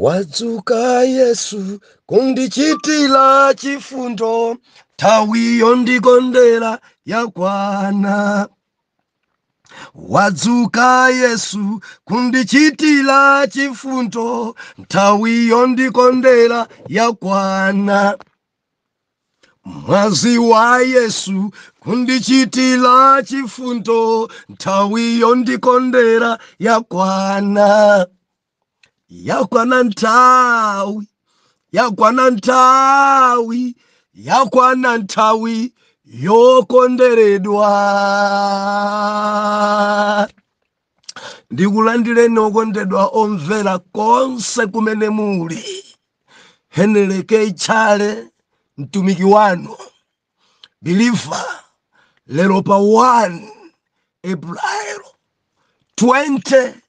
Wadzuka Yesu kundichitira chifundo, nthawi yondikondera yakwana. Wadzuka Yesu kundichitira chifundo, nthawi yondikondera yakwana. Mwazi wa Yesu kundichitira chifundo, nthawi yondikondera yakwana. yakwana nthawi yakwana nthawi yakwana nthawi yokonderedwa ndikulandireni okondedwa omvera konse kumene muli heneleke chale mtumiki wanu believer lero pa 1 april 20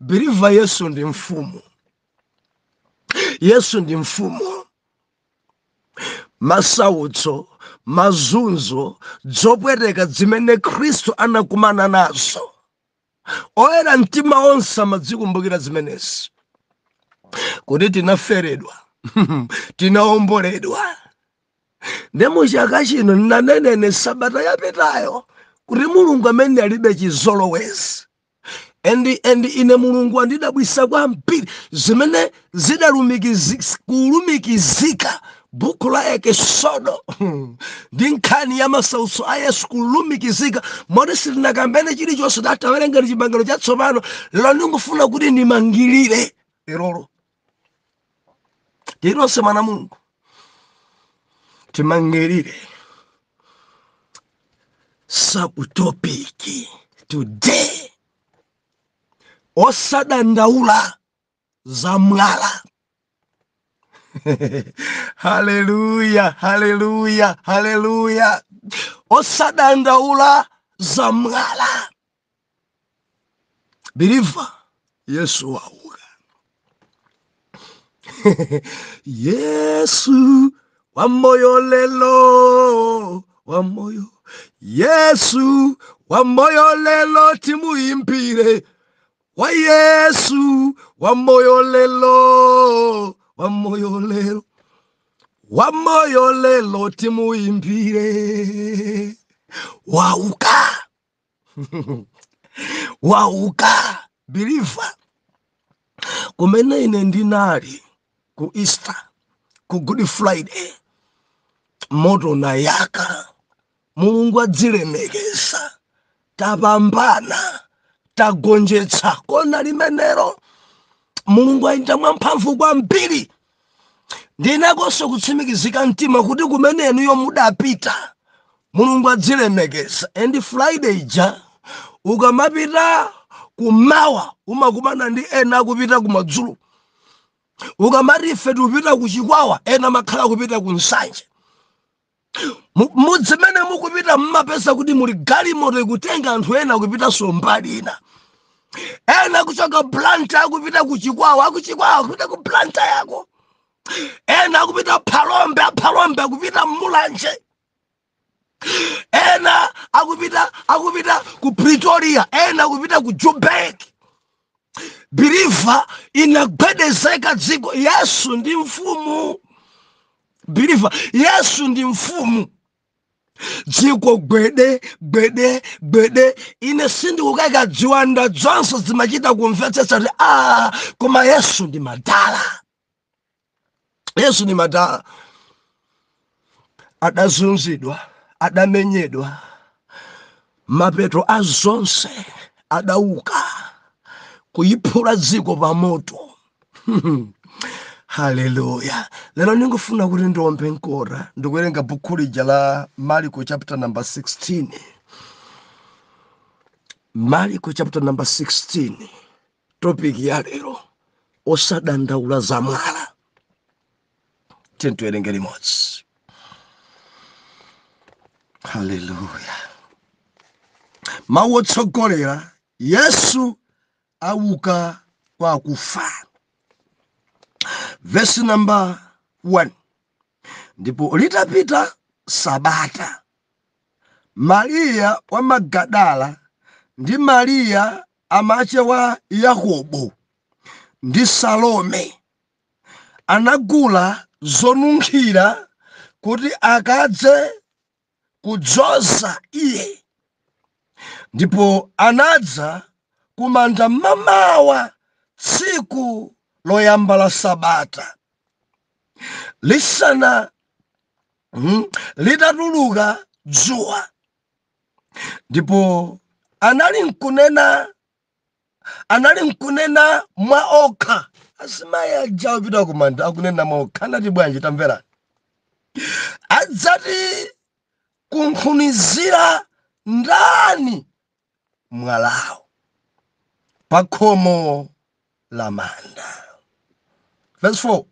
believer yesu ndi mfumu yesu ndi mfumu masautso mazunzo zopweteka zimene khristu anakumana nazo oyera mtima onse amadzikumbukira zimenezi kuti tinaferedwa tinaomboledwa nde muchaka chino ndinanena sabata yapitayo kuti mulungu amene alibe chizolowezi and and ine mulungu andidabwisa kwambiri zimene zidalumikizi- kulumikizika buku la ekesodo hmm, ndi nkhani ya masautso a yesu kulumikizika moti sitinakambene chilichonse tatawerengera chipangano chatsopano lero ndikufuna kuti ndimangirire lerolo tili nonse mwana mulungu timangirire subtopic today osadandaula za mwala haleluya haleluya haleluya osadandaula za mwala believer yesu wauka yesu wa moyo lelo wa moyo yesu wa moyo lelo timuimbire wa yesu wa moyo lelo wa moyo lelo wa moyo lelo timuimbire wauka wauka believer kumene ine ndinali ku easter ku good friday moto unayaka mulungu adzilemekeza tapambana tagonjetsa kona limenero mulungu ayenda mwamphamvu kwambiri ndili nakonso kutsimikizika mtima kuti kumene inuyo mudapita mulungu adzilemekeza and friday ija ukamapita kumawa umakumana ndi ena akupita kumadzulo ukamati ife tikupita kuchikwawa ena amakhala kupita ku nsanje mudzimene mukupita mmapeza kuti muli galimoto ikutenga anthu ena kupitanso mbali ina ena kuchoka blantyre akupita kuchikwawa akuchikwawa akupita ku blantyre ko ena akupita phalombe aphalombe akupita mulanje ena akupita akupita ku pretoria ena akupita ku joburg believer inagwedezeka dziko yesu ndi mfumu believer yesu ndi mfumu dziko gwede gwede gwede ine sindikukayika ziwanda dzonse zimachita kumvetsetsa kuti a koma yesu ndi madala yesu ndi madala adazunzidwa adamenyedwa mapeto a zonse adauka kuyiphula dziko pa moto haleluya lero ndingofuna kuti ndiombe mkota ndikuwerenga buku lija la mariko chapter number 16 mariko chapter number 16 topic ya lero osadandaula za mwala tiyeni tiwerenge limodzi haleluya mawu otsogolera yesu auka kwa akufa verse number 1 ndipo litapita sabata mariya wa magadala ndi mariya Amace wa Yakobo ndi Salome anagula zonunkhira kuti akadze kudzoza iye, ndipo anadza kumanda mamawa tsiku loyamba la sabata, lisana, litatuluka dzuwa. ndipo anali nkunena anali nkunena mwa okha azimayi aja opita kumanda akunena mwa okha anati bwanji tamverani adzatikunkhunizira ndani mwalawo pa khomo la manda verse 4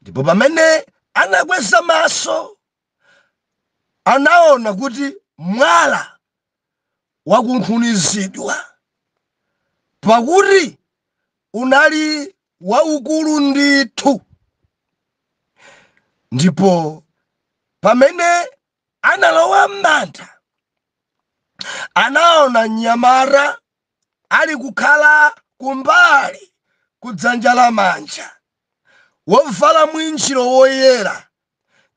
ndipo pamene anakweza maso anaona kuti mwala wakunkhunizidwa, pakuti unali waukulu ndithu. Ndipo pamene analowa m'manda, anaona mnyamata ali kukhala kumbali kudzanja lamanja, wovala mwinjiro woyera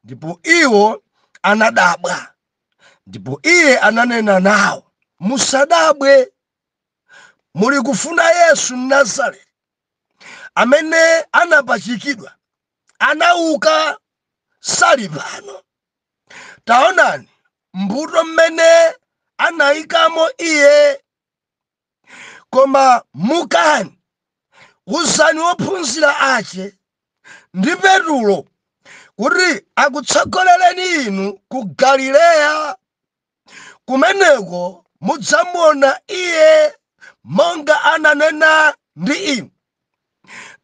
ndipo iwo anadabwa ndipo iye ananena nawo musadabwe muli kufuna yesu mnazareti amene anapachikidwa anauka sali pano taonani mbuto mmene anayikamo iye koma mukani uzani ophunzira ake ndi petulo kuti akutsogolereni inu ku galileya kumeneko mudzamuona iye monga ananena ndi inu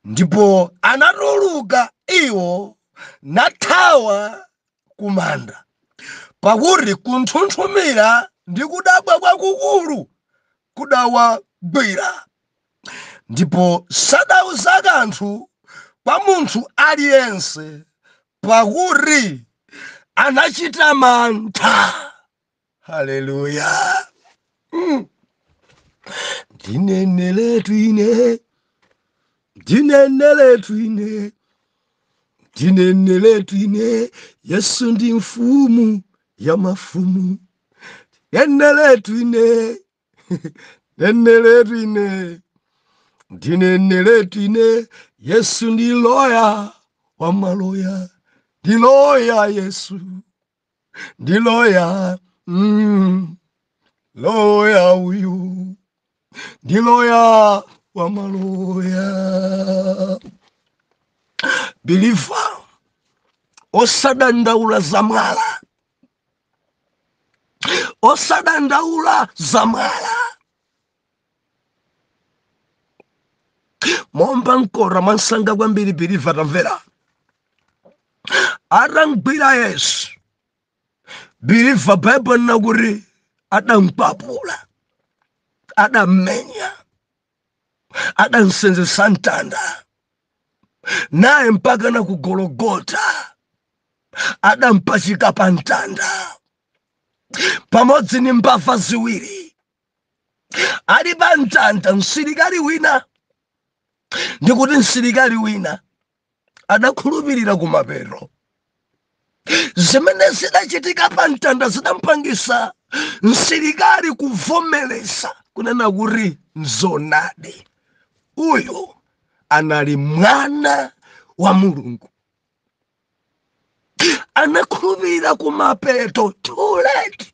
ndipo anatuluka iwo nathawa kumanda pakuti kunthunthumira ndi kudabwa kwakukulu kudawagwira ndipo sadauza kanthu kwa munthu aliyense pakuti anachita mantha haleluya ndineneletu ine ndineneletu ine ndineneletu ine yesu ndi mfumu ya mafumu neneletu ine neneletu ine ndineneletu ine yesu ndi loya wa maloya ndi loya yesu ndi loya loya uyu ndi loya wa maloya biliva osadandaula za mwala osadandaula za mwala momba mkora mwamsanga kwambiri biliva tamvera atamgwira yesu biliva baibulo linena kuti adamkwapula adammenya adamsenzesa mtanda naye mpakana ku gologota adampachika pa mtanda pamodzi ni mbava ziwiri ali pa mtanda msilikali wina ndikuti msilikali wina adakhulupirira kumapeto zimene zidachitika pa mtanda zidampangisa msilikali kuvomereza kunena kuti nzoonadi uyu anali mwana wa mulungu anakhulupirira kumapeto too late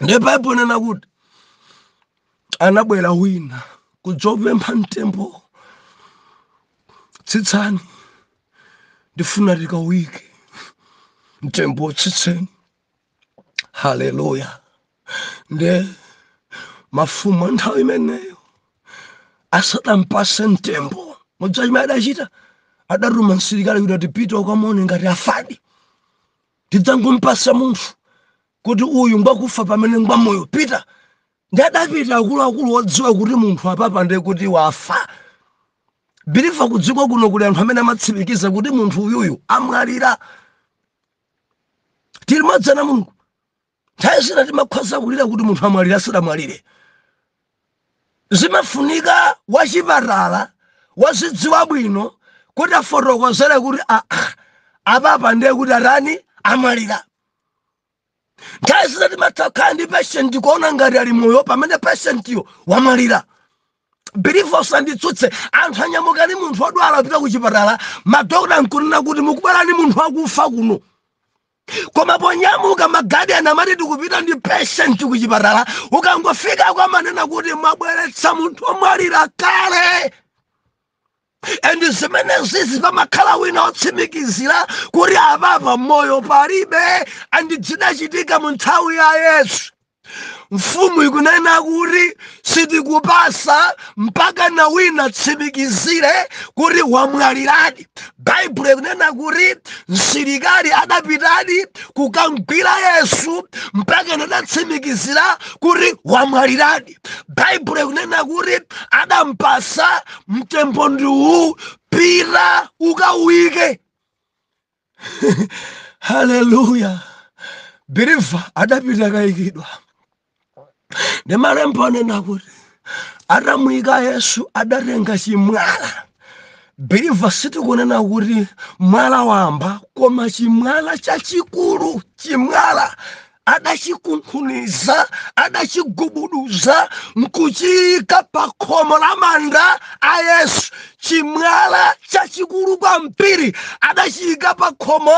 ndiye baibulo inanena kuti anabwera wina kudzopempha mtembo tsitsani ndifuna tikawike mtembo tsitseni haleluya nde mafumu a nthawi imeneyo asadampase mtembo modzi chimene adachita adatuma msilikali kuti ati pita ukamuone ngati afadi tidzangompatsa munthu kuti uyu ngwakufa pamene ngwamoyo pita ndi adapita akuluakulu odziwa kuti munthu apapa ndiye kuti wafa believer kudziko kuno kuli anthu amene amatsimikiza kuti munthu uyuyu amwalira tili madzana mulungu Nthawi zina timakhoza kulira kuti munthu amwalira asadamwalire. Zimafunika wachipatala wodziwa bwino kuti afotokozere kuti aa, apapa ndiye kuti atani amwalira. Nthawi zina timatha kukhala ndi patient kuona ngati ali moyo pamene patientyo wamwalira. Believer usanditsutse, anthu anyamuka ndi munthu wodwala kupita kuchipatala, madokotala nkunena kuti mukubwera ndi munthu wakufa kuno. koma ponyamuka magadiyani amati tikupita ndi patient kuchipatala ukangofika kumanena kuti mwabweretsa munthu omwalira kale and zimenezizi pamakhala wina otsimikizira kuti apapa moyo palibe and zidachitika mu nthawi ya yesu mfumu ikunena kuti sitikupatsa mpaka na wina atsimikizire kuti wamwaliradi baibulo ikunena kuti msilikali adapitadi kukamgwira yesu mpaka nadatsimikizira kuti wamwaliradi baibulo ikunena kuti adampatsa mtembo ndi uwu pita ukauyike haleluya believer adapita kayikidwa ndi malemba anena kuti atamuyika yesu adatenga chimwala believer sitikunena kuti mwala wamba koma chimwala chachikulu chimwala adachikunkhuniza adachigubuduza nkuchiyika pa khomo la manda a yesu chimwala chachikulu kwambiri adachiyika pa khomo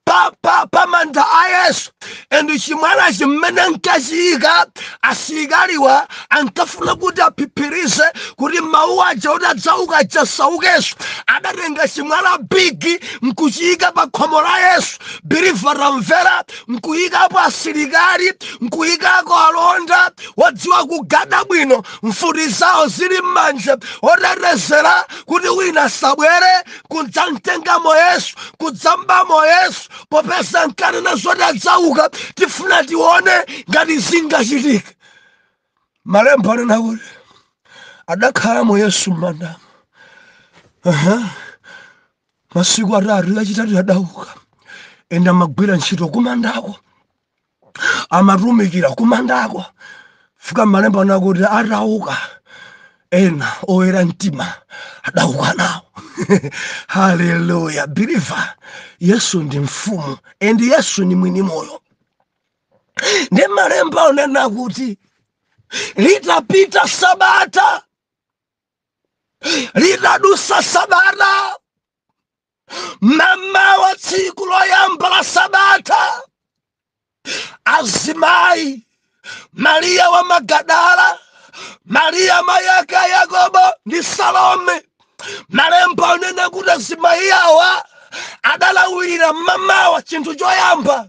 pa, pa, pa manda a yesu and chimwala chimene ankachiyika asilikaliwa ankafuna kuti aphiphirize kuti mawu aja kuti adzauka aja asaukeso adatenga chimwala big nkuchiyika pa khomo la yesu believer tamvera nkuyikapo asilikali nkuyikako alonda wodziwa kugada bwino mfuti zawo zili m'manja otetezera kuti wina asabwere kudzamtengamo yesu kudzambamo yesu popeza nkanena zoti adzauka tifuna tione ngati zingachitika malembo anena kuti adakhalamo yesu m'mandamo Aha. masiku atatu lachitatu adauka end amagwira ntchito kumandako amatumikira kumandako fika malembo anena kuti atauka ena oyera mtima adauka nawo haleluya biliva yesu ndi mfumu and yesu ni mwini moyo ndi malemba anena kuti litapita sabata litadusa sabata mmamawa tsiku loyamba la sabata azimayi mariya wa magadala mariya mayake a yakobo ndi salome malemba anena kuti azimayi awa adalawirira mmamawa chinthu choyamba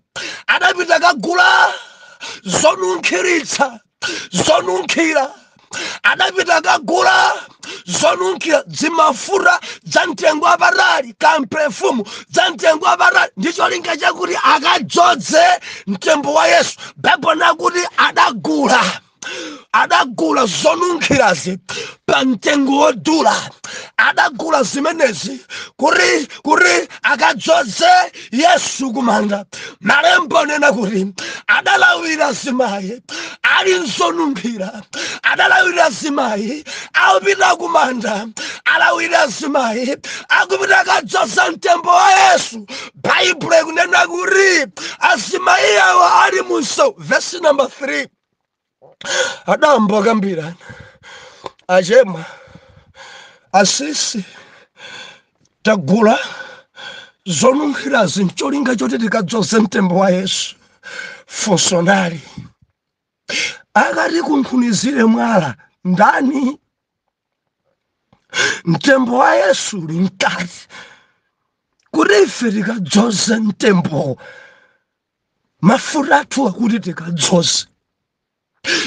adapita kagula zonunkhiritsa zonunkhira adapita kagula zonunkhira zimafuta za mtengo wapatali kampefumu za mtengo wapatali ndi cholinga chakuti akadzoze mtembo wa yesu baibulo inena kuti adagula adagula zonunkhirazi pa mtengo wodula adagula zimenezi kuti kuti akadzoze yesu kumanda malembo anena kuti adalawira azimayi ali nzonunkhira adalawira azimayi akupita kumanda alawira azimayi akupita kadzoza mtembo wa yesu baibulo ikunena kuti azimayi awa ali munso vesi namba 3 adayamba kambirana achema asisi tagula zonunkhirazi ncholinga choti tikadzoze mtembo wa yesu funso nali akatikunkhunizire mwala ndani mtembo wa yesu uli mkati kuti ife tikadzoze mtembowo mafuta athu akuti tikadzoze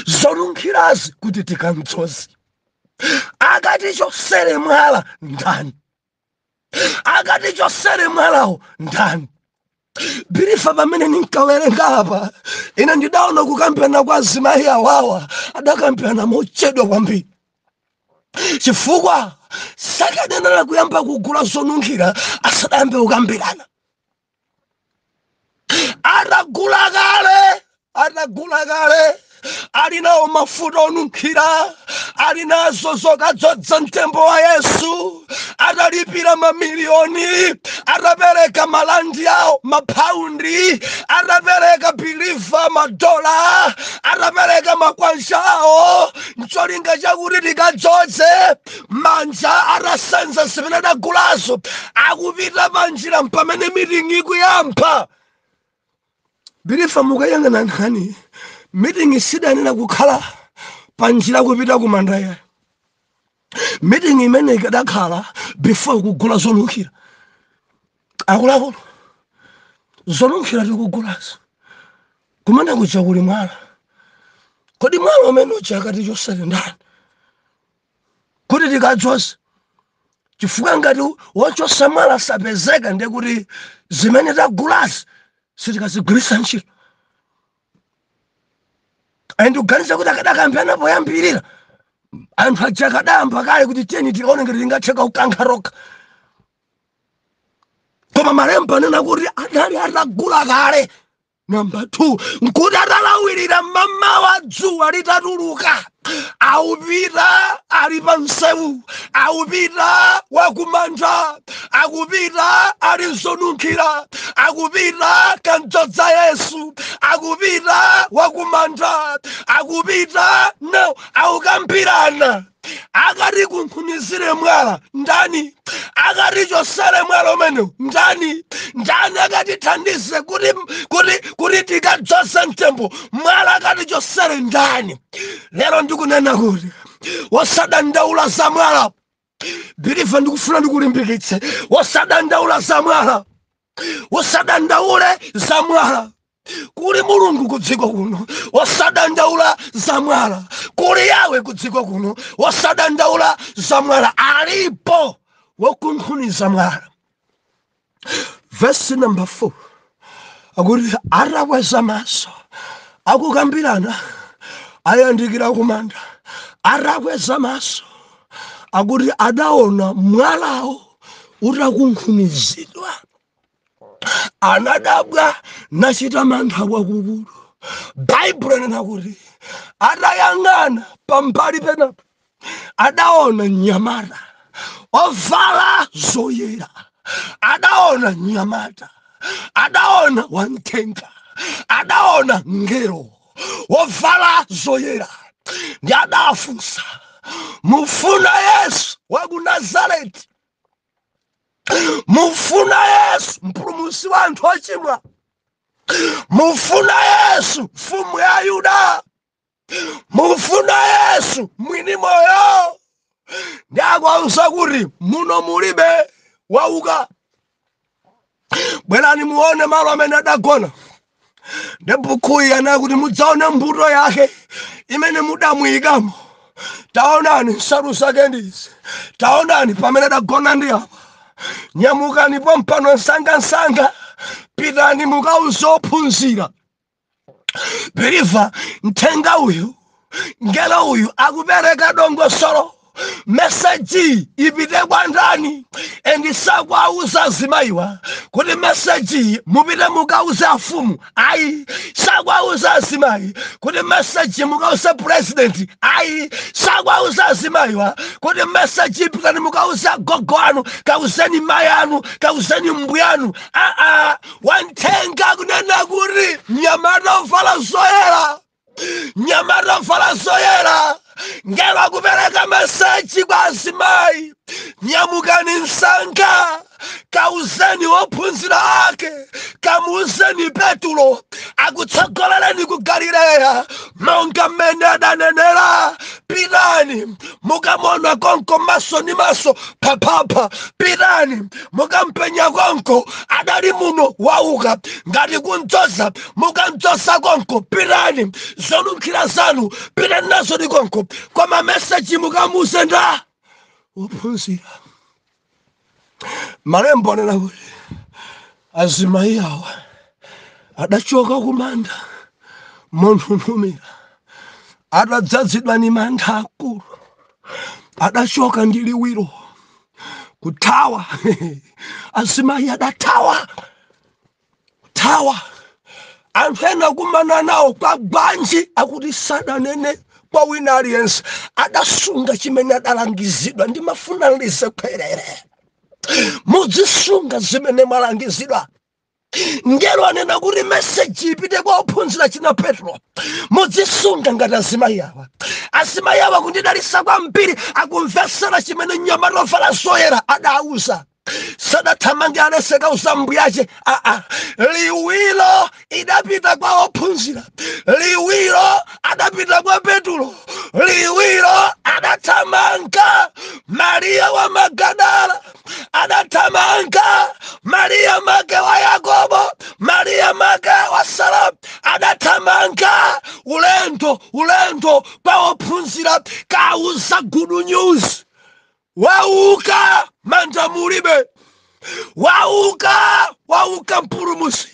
zonunkhirazi kuti tikamdzoze akatichosere mwala ndani akatichosere mwalawo ndani biliva pamene ninkawerenga apa ine ndidaona kukambirana kwa azimayi awawa adakambirana mochedwa kwambiri chifukwa sakadayenera kuyamba kugula zonunkhira asadayambe kukambirana atagula kale atagula kale ali nawo mafuta onunkhira ali nazo zokadzodza mtembo wa yesu atalipira mamiliyoni atapereka malandi awo mapaundi atapereka biliva madola atapereka makwanja awo ncholinga chakuti tikadzoze manja atasenza zimene adagulazo akupita panjira mpamene miting'i ikuyamba biliva mukayang'ana nkhani miting'i sidanena kukhala panjira kupita kumanda ayi miting'i imene ikadakhala before kugula zonunkhira akuluakulu zonunkhira tikugulazo kumene kuja kuli mwala kodi mwala umene uja akatichosere ndani kuti tikadzoze chifukwa ngati wochosa mwala sapezeka ndiye kuti zimene tagulazi sitikazigwiritsa ntchito ayi ndikuganiza kuti akadakambirana poyambirira anthu aja akadayamba kale kuti tiyeni tikaone ngati zingatheke kukankha tokha koma malemba anena kuti adali atagula kale Namba 2 nkuti atalawirira mmamawa dzuwa litatuluka akupita ali pa msewu akupita wakumanda akupita ali ndi zonunkhira akupita kukamdzodza yesu akupita wakumanda akupita nawo akukambirana akatikunkhunizire mwala ndani akatichosere mwala umenewu ndani ndani akatithandize kuti kuti kuti tikadzoze mtembo mwala akatichosere ndani lero ndikunena kuti wosadandaula za mwala biliva ndikufuna ndikulimbikitse wosadandaula za mwala usadandaule za mwala kuli mulungu kudziko kuno osadandaula za mwala kuli yawe kudziko kuno osadandaula za mwala alipo wokunkhuniza mwala vesi namba 4 akuti atakweza maso akukambirana ayandikira kumanda atakweza maso akuti adaona mwalawo utakunkhunizidwa anadabwa nachita mantha kwakukulu baibulo inena kuti atayang'ana pambali penapo adaona mnyamata ovala zoyera adaona mnyamata adaona wamthenga adaona mngelo wovala zoyera ndi adafunsa mufuna yesu wa ku nazareti mufuna yesu mpulumusi wa anthu ochimwa mufuna yesu mfumu ya ayuda mufuna yesu mwini moyo ndi akuwauza kuti muno mulibe wauka bwerani muone malo amene adagona ndi bukhuyi anena kuti mudzaone mbuto yake imene mudamuyikamo taonani nsalu zake ndizi taonani pamene adagona ndi apa nyamukani pompano msangamsanga pitani mukauze ophunzira biliva mthenga uyu ngelo uyu akupereka dongosolo meseji ipite kwa ndani endi sakuwauza azimayiwa kuti meseji mupite mukauze afumu ayi sakuwauza azimayi kuti meseji mukauze purezidenti ayi sakuwauza azimayiwa kuti meseji pitani mukauze agogo anu kauzeni mayi anu kauzeni mbuyanu aa wamthenga akunena kuti mnyamata ovala zoyera mnyamata ovala zoyera ngelo akupereka meseji kwa azimayi nyamukani msanga kauzeni ophunzira ake kamuuzeni petulo akutsogolereni ku galileya monga mmene adanenera pitani mukamuona konko maso ni maso phaphapha pitani mukampenya konko adali muno wauka ngati kumdzoza mukamdzoza konko pitani zonunkhira zanu pitani nazo ni konko koma meseji mukamuuze ndi ophunzira malembo anena kuti azimayi awa adachoka kumanda monthunthumira adadzazidwa ni mantha akulu adachoka ndi liwiro kuthawa azimayi adathawa kuthawa anthu ena kukumana nawo kwa bwanji akuti sadanene kwa wina aliyense adasunga chimene adalangizidwa ndimafuna ndizibwereze muzisunga zimene mwalangizidwa ngelo anena kuti meseji ipite kwa ophunzira china petro mudzisunga ngati azimayi awa azimayi awa kundidalisa kwambiri akumvetsera chimene mnyamata ovala zoyera adawauza sadathamange anaseka uzambuyache aa liwiro idapita kwa ophunzira liwiro adapita kwa petulo liwiro adathamanga mariya wa magadala adathamanga mariya make wa yakobo mariya make wa sara adathamanga ulendo ulendo pa ophunzira kauza gudu news wauka manda mulibe wauka wauka mpulumusi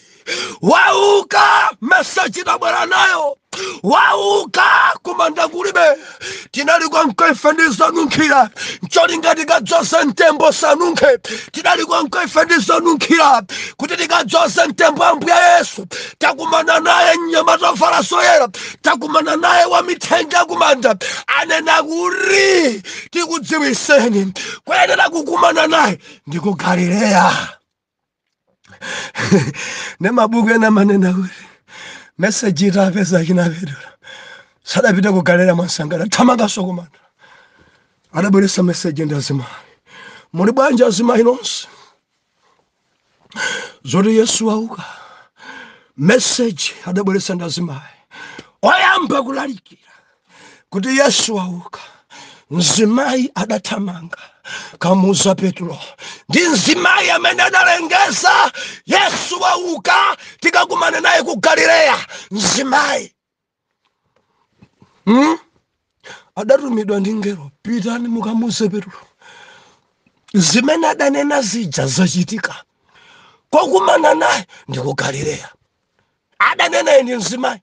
wauka meseji tabwera nayo wauka kumanda kulibe tinali konko ife ndi zonunkhira ncholinga tikadzoze mtembo sanunkhe tinali konko ife ndi zonunkhira kuti tikadzoze mtembo ambuye yesu takumana naye mnyamata ovala zoyera takumana naye wa mithenga kumanda anena kuti tikudziwiseni koyenera kukumana naye ndi ku galileya nde mabuku ena amanena kuti meseji itapeza achina petulo sadapite ku galileya mwansanga adathamangaso kumanda adabweretsa meseji ndi azimayi muli bwanji azimayi nonse zoti yesu wauka meseji adabweretsa ndi azimayi oyamba kulalikira kuti yesu wauka mzimayi adathamanga kamuuza petulo ndi mzimayi amene adalengeza yesu wauka tikakumane naye ku galileya mzimayi hmm? adatumidwa ndi ngelo pitani mukamuuze petulo zimene adanena zija zachitika kokumana naye ndi ku galileya adanena ndi mzimayi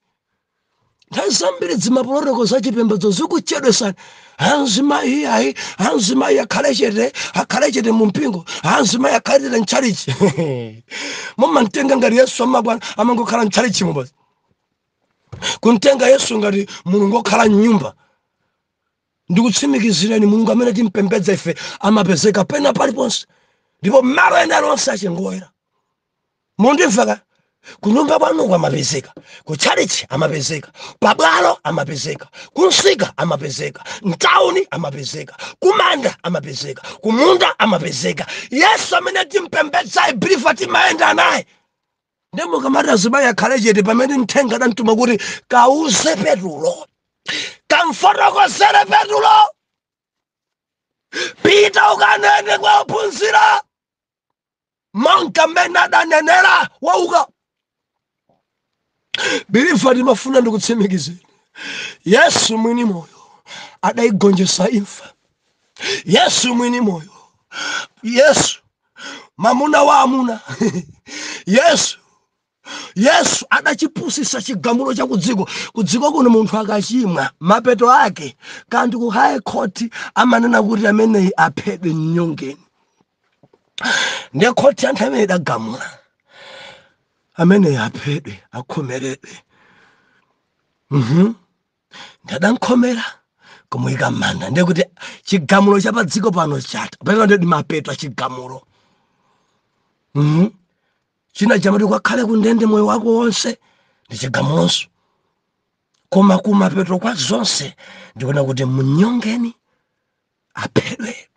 nthawi zambiri zimapolotoko za chipembedzo zikuchedwesani azimayi iyayi azimayi akhale chete akhale chete mu mpingo azimayi akhale chete mtchalichi mumamtenga ngati yesu amakwana amangokhala mtchalichimu basi kumtenga yesu ngati mulungu okhala mnyumba ndikutsimikizireni mulungu amene timpembedza ife amapezeka pena paliponse ndipo mmalo ena alionse ache ngoyera mundimveka kunyumba kwanuko amapezeka kutchalichi amapezeka pabwalo amapezeka kumsika amapezeka mtauni amapezeka kumanda amapezeka kumunda amapezeka yesu amene timpembedza biliva timayenda naye Ndiye mukamati azimayi akhale chete pamene mthenga adamtuma kuti kauze Petulo, kamfotokozere Petulo, pita ukanene kwa ophunzira monga mmene adanenera wauka. Biliva timafuna ndikutsimikizeni, Yesu mwini moyo adaigonjesa imfa. Yesu mwini moyo, Yesu mamuna wa amuna yesu yesu adachipusitsa chigamulo cha kudziko kudziko kuno munthu akachimwa mapeto ake ndi ku high court amanena kuti ameneyi aphedwe mnyongeni ndiye khoti ya nthawi imene idagamula ameneyi aphedwe akhomeredwe mhm ndi adamkhomera kumuyika m'manda ndiye kuti chigamulo cha pa dziko pano chatha pamene ndi mapeto a chigamulo Mhm. china chimati kakhale kundende moyo wako wonse ndi chigamulonso koma kumapeto kwa zonse ndikunena kuti munyongeni aphedwe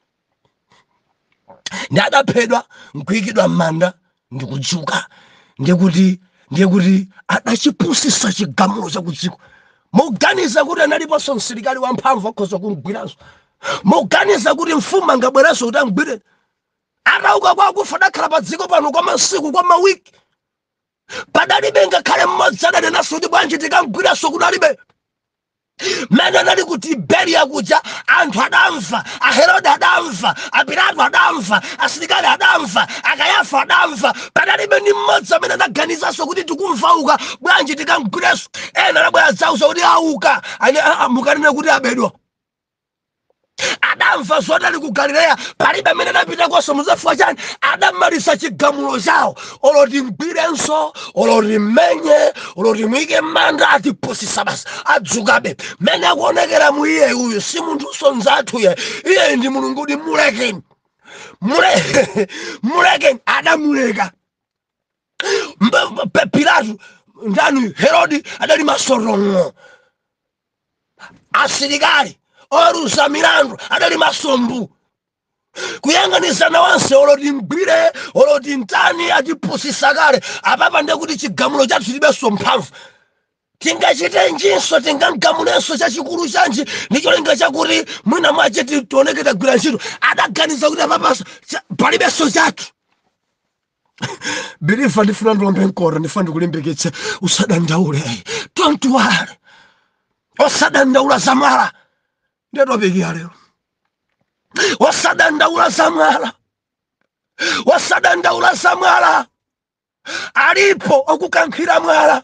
ndi adaphedwa nkuyikidwa m'manda ndikudzuka ndiye kuti ndiye kuti adachipusisa chigamulo chakudziko muganiza kuti analiponso msilikali wamphamvu akhoza kumgwiranso muganiza kuti mfumu angabwerenso kuti amgwire atauka kwa akufa adakhala pa dziko pano kwa masiku kwa mawiki padalibe ngakhale mmodzi adanenanso kuti bwanji tikamgwirenso kunalibe mmene anali ku tiberiya kuja anthu adamva aherode adamva apilato adamva asilikali adamva akayafa adamva padalibe ndi mmodzi amene anaganizanso kuti tikumva auka bwanji tikamgwirenso ena anabwera dzauza kuti auka Ane- a- a- mukanene kuti abedwa adamva zoti ali ku galileya palibe amene anapitakonso mudziwa chifukwa chani adamaliza chigamulo chawo olo timgwirenso olo timmenye olo timuyike m'manda atipusisa basi adzukabe mmene akuonekeramu iye uyu si munthunso nzathu iyayi ndi mulungu kuti mulekeni mule mulekeni adamuleka pilato ndani herodi adali maso tong'o asilikali oweruza milandu adali maso mbuu kuyang'anizana onse olo timgwire olo timtani atipusisa kale apapa nde kuti chigamulo chathu chilibenso mphamvu tingachitenjinso tingagamulenso chachikulu chanji ndi cholinga chakuti mwina mwache tioneke tagwira ntchito adaganiza kuti apapa palibenso chathu believer ndifuna ndiwombe mkota ndifuna ndikulimbikitse usadandaule don't worry osadandaula za mwala nde topic ya lero osadandaula za mwala osadandaula za mwala alipo okukankhira mwala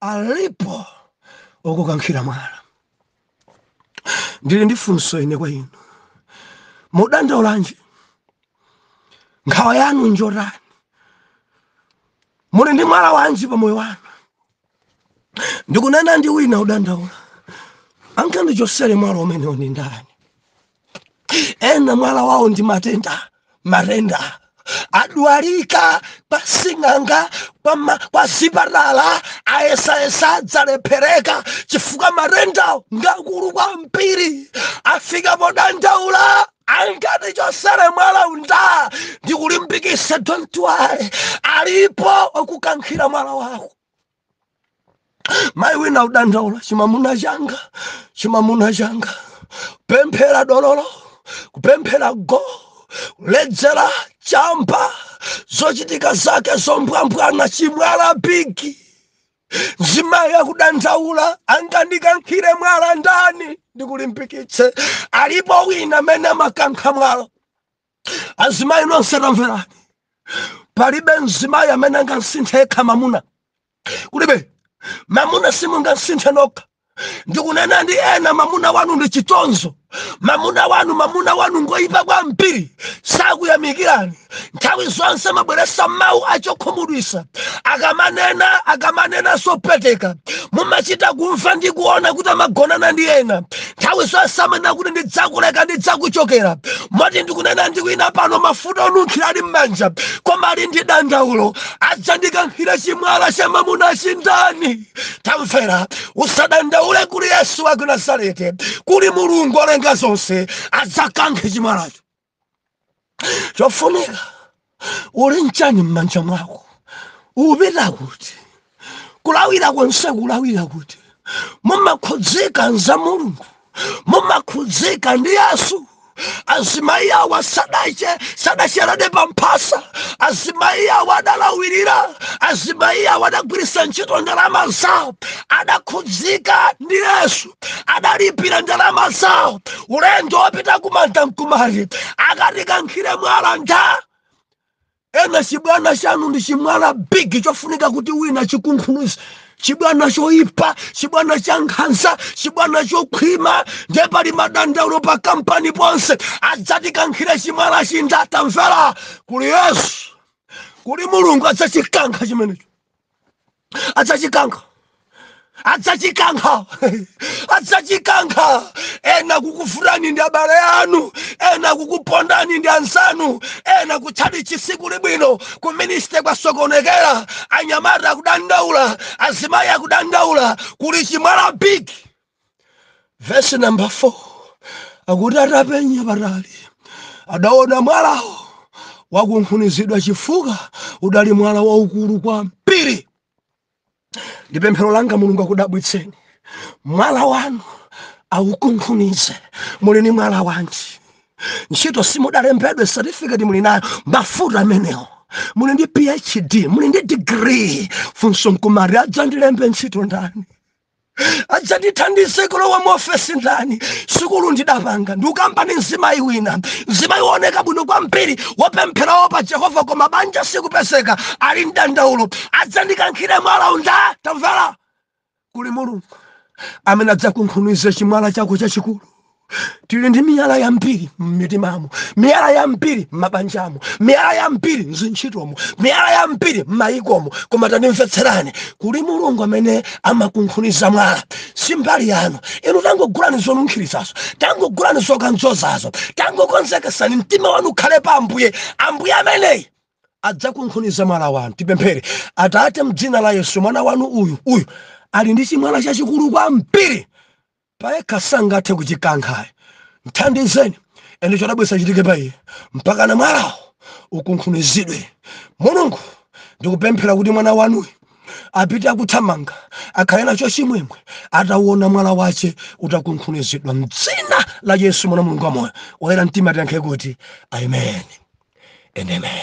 alipo okukankhira mwala ndili ndi funso ine kwa inu mudandaulanji nkhawa yanu njotani muli ndi mwala wanji pa moyo wanu ndikunena ndi wina udandaula angandichotsere mwala umenewo ndi ndani ena mwala wawo ndi matenda matenda adwalika kwa sing'anga kwa, ma, kwa zipatala ayesayesa zalephereka chifukwa matenda ngakulu kwambiri afika podandaula angatichotsere mwalawu ndani ndikulimbikitsa don't worry alipo okukankhira mwala wako mayi wina kudandaula chimamuna changa chimamuna changa kupemphera dololo kupemphera go kuledzera chamba zochitika zake zombwambwana chimwala bigi mzimayi akudandaula angandikankhire mwala ndani ndikulimbikitse alipo wina amene amakankha mwala azimayi nonse tamverani palibe mzimayi amene angamsinthe yekha mamuna kulibe mamuna simungamsinthe nokha ndikunena ndi ena mamuna wanu ndi chitonzo mamuna wanu mamuna wanu ngoyipa kwambiri sakuyamikirani nthawi zonse mabweresa mawu achokhumudwisa akamanena akamanena zopweteka mumachita kumva ndi kuona kuti amagonana ndi ena nthawi zonse amanena kuti ndidzakuleka ndidzakuchokera moti ndikunena ndi wina pano mafuta onunkhira ali m'manja koma ali ndi dandaulo adzandikankhira chimwala cha mamuna chindani tamvera usadandaule kuli yesu wa ku nazareti kuli mulungu olenga zonse adzakankhe chimwalacho chofunika uli nchani m'manja mwako upita kuti kulawira konse kulawira kuti mumakhudzika ndi za mulungu mumakhudzika ndi yesu azimayi awa sadache sadachedwe pamphasa azimayi awa adalawirira azimayi awa adagwiritsa ntchito ndalama zawo adakhudzika ndi yesu adalipira ndalama zawo ulendo wopita kumanda nkumati akatikankhire mwala ndani ena chibwana chanu ndi chimwala big chofunika kuti wina achikunkhunize chibwana choipa chibwana cha nkhanza chibwana chokhwima nde pali madandaulo pa kampani ponse adzatikankhire chimwala chindani tamvera kuli yesu kuli mulungu adzachikankha chimenecho adzachikankha adzachikankha adzachikankha ena akukuvutani ndi abale anu ena akukupondani ndi anzanu ena kutchalitchi sikuli bwino ku ministry kwasokonekera anyamata akudandaula azimayi akudandaula kuli chimwala big vesi namba 4 akuti atapenya patali adaona mwalawo wakunkhunizidwa chifukwa udali mwala waukulu kwambiri ndi pemphero langa mulungu akudabwitseni mwala wanu aukunkhunize muli ndi mwala wanji ntchito simudalembedwe certificate muli nayo mafuta amenewo muli ndi phd muli ndi degree funso nkumati adzandilembe ntchito ndani adzandithandize kulowa mu ofesi ndani sukulu ndidapanga ndikukamba ndi mzimayi wina mzimayi wooneka bwino kwambiri wopempherawo pa jehova koma banja sikupezeka ali mdandaulo adzandikankhire mwala ndani tamvera kuli mulungu amene adzakunkhunize chimwala chako chachikulu tili ndi miyala yambiri m'mitimamo miyala yambiri m'mabanjamo miyala yambiri m'zintchitomo miyala yambiri m'mayikomo koma tandimvetserani kuli mulungu amene amakunkhuniza mwala si mbali yanu inu tangogulani zonunkhiritsazo tangogulani zokadzozazo tangokonzekesani mtima wanu ukhale pa ambuye ambuye ameneyi adzakunkhuniza mwala wanu tipemphere atate mdzina la yesu mwana wanu uyu uyu ali ndi chimwala chachikulu kwambiri payekha sangathe kuchikankha ayi mthandizeni ende chodabwitsa chichitike pa iye mpaka na mwalawo ukunkhunizidwe mulungu ndikupemphera kuti mwana wanuyu apite akuthamanga akhale nacho chimwemwe atauona mwala wache utakunkhunizidwa mdzina la yesu mwana wa mulungu wamoyo oyera mtima tiyankhe kuti amen and amen